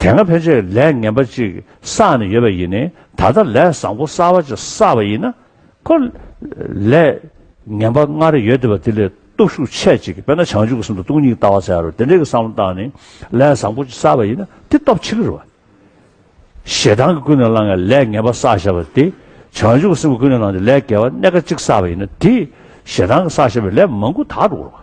དེ་སྔ་ཕལ་ཆེར་ལས་ངན་པ་ཅིག་བསགས་ནས་ཡོད་པ་ཡིན་ནི་ད་ལྟ་ལས་བཟང་པོ་གསར་བ་ཅིག་བསགས་པ་ཡིན་ན། ཁོ་ལས་ངན་པ་སྔར་ཡོད་བསྡད་པ་དེ་ལས་སྟོབས་ཤུགས་ཆེ་ཅིག་དཔེར་ན་བྱང་ཆུབ་ཀྱི་སེམས་དང་སྟོང་ཉིད་ལྟ་བ་ཟེར་ཡ་རོ་དེ་འདྲའི་བསམ་བློ་བཏང་ནས་ལས་བཟང་པོ་ཅིག་བསགས་པ་ཡིན་ན་དེ་སྟོབས་ཆེ་གི་རེད། ཞེ་སྡང་གི་ཀུན་ནས་བསླངས་ནས་ལས་ངན་པ་བསགས་བཞག་པ་དེ་བྱང་ཆུབ་ཀྱི་སེམས་ཀྱི་ཀུན་ནས་བསླངས་ཏེ་ལས་དགེ་བ་གནད་འགག་ཅིག་བསགས་པ་ཡིན་ན་དེས་ཞེ་སྡང་གི་བསགས་བཞག་པའི་ལས་མང་པོ་དག་འགྲོ་གི་རེད།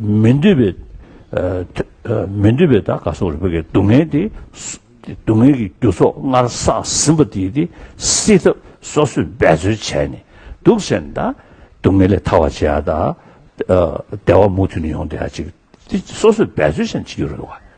མི་འདོད་པའི་མི་འདོད་པའི་དག་ག་སོགས་རིག་པ་ཀའི་སྡུག་བསྔལ་དེ་སྡུག་བསྔལ་གྱི་རྒྱུ་ཚོགས་སྔར་བསགས་ཟིན་པ་དེ་དེ་སེལ་ཐབས་སོ་སོས་འབད་རྩོལ་བྱས་ནས་སྡུག་བསལ་ནས་དང་སྡུག་བསྔལ་ལས་ཐར་བར་བྱེད་ཡ་དང། བདེ་བ་མུ་མཐུད་ནས་ཡོང་བསྡད་ཡ་ཅིག་སོ་སོས་འབད་རྩོལ་བྱས་ནས་བྱེད་རྒྱུ་རེད་བ།